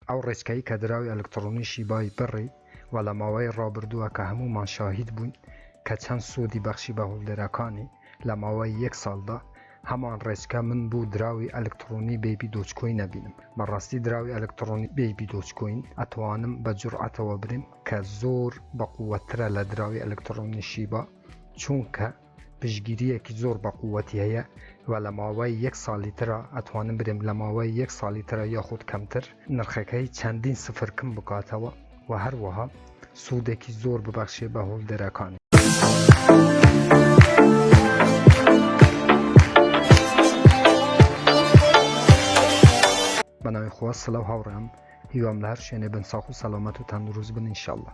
ئەو ڕێچکەی کە دراوی ئەلکتڕۆنی شیبای بڕی و لە ماوەی ڕابردووە کە هەموومان شاهید بووین کە چەند سوودی بەخشی بە هۆڵدەرەکانی لە ماوەی یەک ساڵدا هەمان ڕێچکە من بوو دراوی ئەلکتڕۆنی بەیبی دۆجکۆین ئەبینم بەڕاستی دراوی ئەلکتڕۆنی بەیبی دۆجکۆین ئەتوانم بە جورعەتەوە برێم کە زۆر بە قووەتترە لە دراوی ئەلکتڕۆنی شیبا چوونکە پشگیریەکی زۆر بە قوتی هەیە و لە ماوەی یەک ساڵی ترا ئەتوانم برێم لە ماوەی یەک ساڵی ترا یاخود کەمتر نرخەکەی چەندین سفر کم بکاتەوە و هەروەها سوودێکی زۆر ببەخشێ بە هۆڵدەرەکان. بەناوی خوا سلاو هاوڕێم هیوام لە هەر شوێنێ بن ساخ و سەلامەت و تەندروست بن انشاءاللە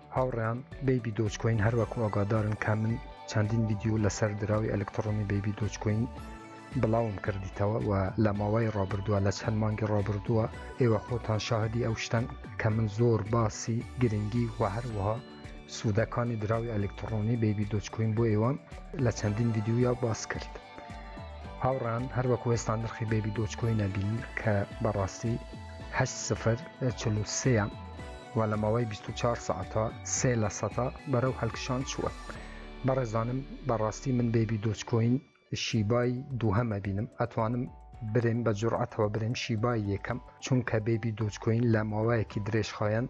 هاوڕێیان بەیبی دۆجکۆین هەروەکو ئاگادارن کە من چەندین ڤیددیو لەسەر دراوی ئەلکترۆنی بەیبی دۆجکۆین بڵاوم کردیتەوە و لە ماوەی ڕابردووە لە چەند مانگی ڕابردووە ئێوە خۆتان شاهدی ئەو شتەن کە من زۆر باسی گرنگی و هەروەها سوودەکانی دراوی ئەلکترۆنی بەیبی دۆجکۆین بۆ ئێوەم لە چەندین ڤیددیویا باس کرد. هاوڕان هەر وەکو ئێستا نرخی بێبی دۆچکۆی نەبین کە بەڕاستی هە سفر چلوسەیە و لە ماوەی 24 ساعتە سێ لە سەتا بەرەو هەلکشان چووە بەڕێزانم بەڕاستی من بێبی دۆچکۆین شیبای دووهەمە بینم ئەتوانم برێن بە جوڕعەتەوە برێن شیبای یەکەم چونکە بێبی دۆچکۆین لە ماوەیەکی درێژخایەن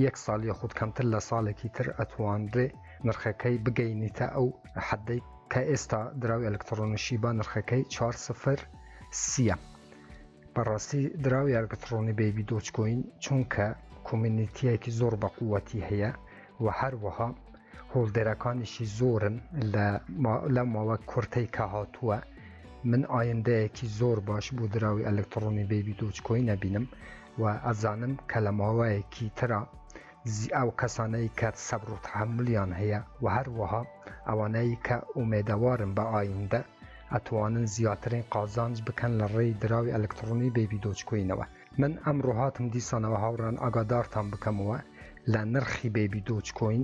یەک ساڵ یاخود کەمتر لە ساڵێکی تر ئەتوانرێ نرخەکەی بگەینیتە ئەو حەدەی کە ئێستا دراوی ئەلکترۆنیشی با نرخەکەی 4 سفر سیە بەڕاستی دراوی ئەلکترۆنی بەیبی دۆچکۆین چونکە کۆمینیتیەکی زۆر بە قووەتی هەیە و هەروەها هۆڵدەرەکانیشی زۆرن لە ماوە کورتەی کە هاتووە من ئایندەیەکی زۆر باش بۆ دراوی ئەلکترۆنی بەیبی دۆچکۆی نەبینم وە ئەزانم کە لە ماوەیەکی ترا ئەو کەسانەی کە سەبر و تەحەمولیان هەیە وە هەروەها ئەوانەی کە ئومێدەوارن بە ئایندە ئەتوانن زیاترین قازانج بکەن لە ڕێی دراوی ئەلکتڕۆنی بەیبی دۆجکۆینەوە من ئەمڕۆ هاتم دیسانەوە هاوڕێیان ئاگادارتان بکەمەوە لە نرخی بەیبی دۆجکۆین.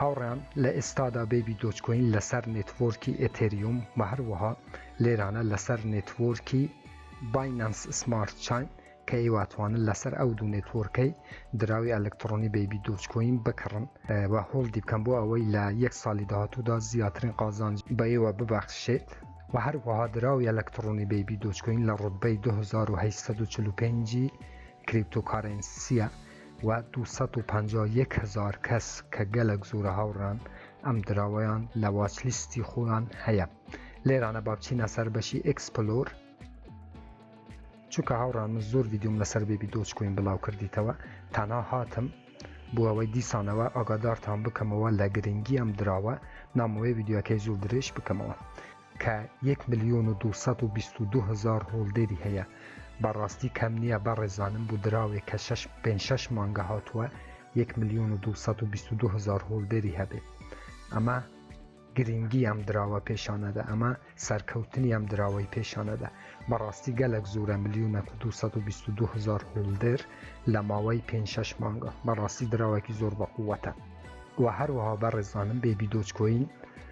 هاوڕێیان لە ئێستادا بەیبی دۆجکۆین لەسەر نێتوۆرکی ئێتێریوم و هەروەها لێرانە لەسەر نێتوۆرکی باینەنس سمارت چاین کە ئێوە ئەتوانن لەسەر ئەو دوو نێتوۆرکەی دراوی ئەلکترۆنی بەیبی دۆجکۆین بکڕن و هۆڵدی بکەن بۆ ئەوەی لە یەک ساڵی داهاتوودا زیاترین قازانج بە ئێوە ببەخشێت و هەروەها دراوی ئەلکترۆنی بەیبی دۆجکۆین لە ڕوتبەی 2845 ی کریپتۆکارێنسیە و دوو سەد و پەنجا و یەک هەزار کەس کە گەلەک زۆرە هاوڕان ئەم دراوەیان لە واچ لیستی خۆیان هەیە لێرانە با بچینە سەر بەشی ئێکسپلۆر چونکە هاوڕان من زۆر ویددیوم لەسەر بێبی دۆچ کوین بڵاو کردیتەوە تەنا هاتم بۆ ئەوەی دیسانەوە ئاگادارتان بکەمەوە لە گرنگی ئەم دراوە نامەوەی ویددیوەکەی زۆر درێژ بکەمەوە کە یەک ملیۆن و دوو سەد و بیست و دوو هەزار هۆڵدەری هەیە بەڕاستی کەم نییە بەڕێزانم بۆ دراوێک کە شەش پێنج شەش مانگە هاتووە یەک ملیۆن و دوو سەد و بیست و دوو هەزار هۆڵدەری هەبێت ئەمە گرنگی ئەم دراوە پێشانەدا ئەمە سەرکەوتنی ئەم دراوەی پێشانەدا بەڕاستی گەلک زۆرە ملیۆنە و دو سەد و بیست و دوو هەزار هۆڵدەر لە ماوەی پێنج شەش مانگە بەڕاستی دراوەکی زۆر بەقووەتە و هەروەها بەڕێزانم بێبی دۆچکۆین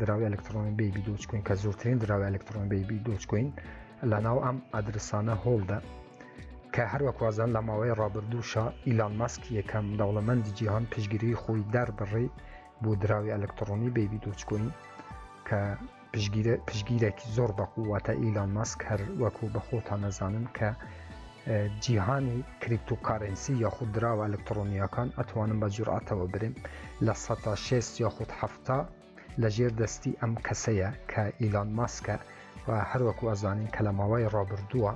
دراوی ئەلکترۆنی بێبی دۆچکوین کە زۆرترین دراوی ئەلکترۆن بێبی دۆچکوین لە ناو ئەم ئەدرسانە هۆڵدا کە هەروەکوازان لە ماوەی ڕابردووشە ئیلان ماسک یەکەم دەوڵەمەندی جیهان پشگیری خۆی دەربڕی بۆ دراوی ئەلکترۆنی بێبی دۆچکوین کە پشگیرێکی زۆر بەقووەتە ئیلان ماسک هەر وەکو بەخۆتان نەزانن کە جیهانی کریپتو کارەنسی یاخود دراوە ئەلکترۆنیەکان ئەتوانم بە جورعەتەوە برێم لە سەتا شێست یاخود حەفتا لە ژێر دەستی ئەم کەسەیە کە ئیلان ماسکە و هەروەکو ئەزانین کە لە ماوەی ڕابردووە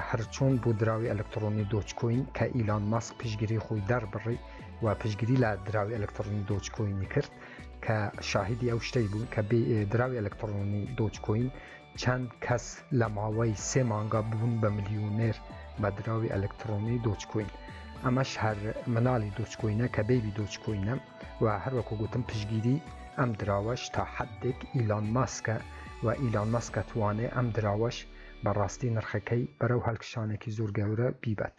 هەرچۆن بۆ دراوی ئەلکترۆنی دۆچکۆین کە ئیلان ماسک پشگیری خۆی دەربڕی و پشگیری لە دراوی ئەلکترۆنی دۆچکۆینی کرد کە شاهدی ئەو شتەی بوو کە دراوی ئەلکترۆنی دۆچکۆین چەند کەس لە ماوەی سێ مانگا بوون بە ملیونێر بە دراوی ئەلکترۆنی دۆچکۆین ئەمەش هەر مناڵی دۆچکۆینە کە بەیبی دۆچکۆینە و هەروەکو گوتم پشگیری ئەم دراوەش تا حدێک ئیلان ماسکە و ئیلان ماسکە توانێ ئەم دراوەش بەڕاستی نرخەکەی بەرەو هەلکشانێکی زۆر گەورە بیبات.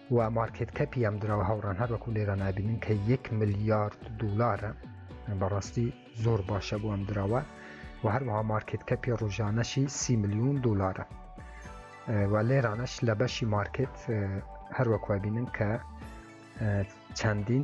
و مارکێت کەپی ئەم دراوە هاوڕان هەر وەکو لێرە نابینن کە یەک ملیارد دلارە بەڕاستی زۆر باشە بۆ ئەم دراوە و هەروەها مارکێت کەپی ڕژانەشی سی میلیون دلارە و لێرانەش لە بەشی مارکێت هەروەکوبینن کە چەندین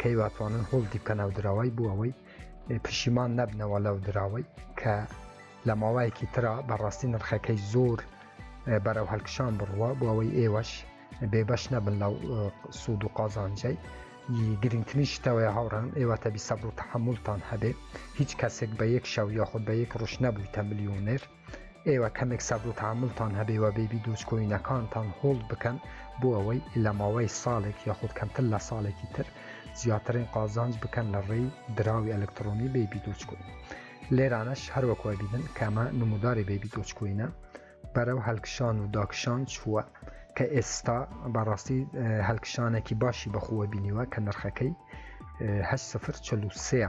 کەی واتوانن هۆڵدی بکە ناو دراوای بوو ئەوەی پشیمان نەبنەوە لەو دراوەی کە لە ماوایەکی ترا بەڕاستی نرخەکەی زۆر بەرەو هەلکشان بڕوە بۆ ئەوەی ئێوەش بێبەش نەبن لەو سوود و قازانجەی گرنگترین شتەوەی هاوڕان ئێوە تەبی سەبر و تحملتان هەبێ هیچ کەسێک بە یەک شەو یاخود بە یەک ڕوش نەبوویتە ملیونێر ئێوە کەمێک سەبر و تەحەمولتان هەبێ و بێبی دۆجکۆینەکانتان هۆڵد بکەن بۆ ئەوەی لە ماوەی ساڵێک یاخود کەمتر لە ساڵێکی تر زیاترین قازانج بکەن لە ڕێی دراوی ئەلکترۆنی بێبی دۆجکۆین لێرانەش هەروەکو ئەبینن کە ئەمە نموداری بێبی دۆجکۆینە بەرەو هەلکشان و داکشان چووە کە ئێستا بەڕاستی هەلکشانێکی باشی بەخۆوە بینیوە کە نرخەکەی هەش سفر چلوسەیە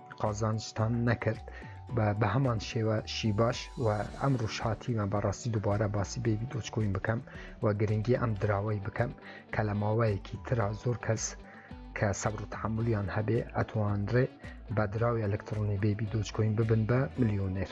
قازانجتان نەکرد بە هەمان شێوە شی باش و ئەم ڕوشهاتیمە بەڕاستی دووبارە باسی بێبی دۆچکۆین بکەم و گرنگی ئەم دراوەی بکەم کە لە ماوەیەکی ترا زۆر کەس کە سەبر و تحملیان هەبێ ئەتوانرێ بە دراوی ئەلکترۆنی بێبی دۆچکۆین ببن بە ملیۆنێر.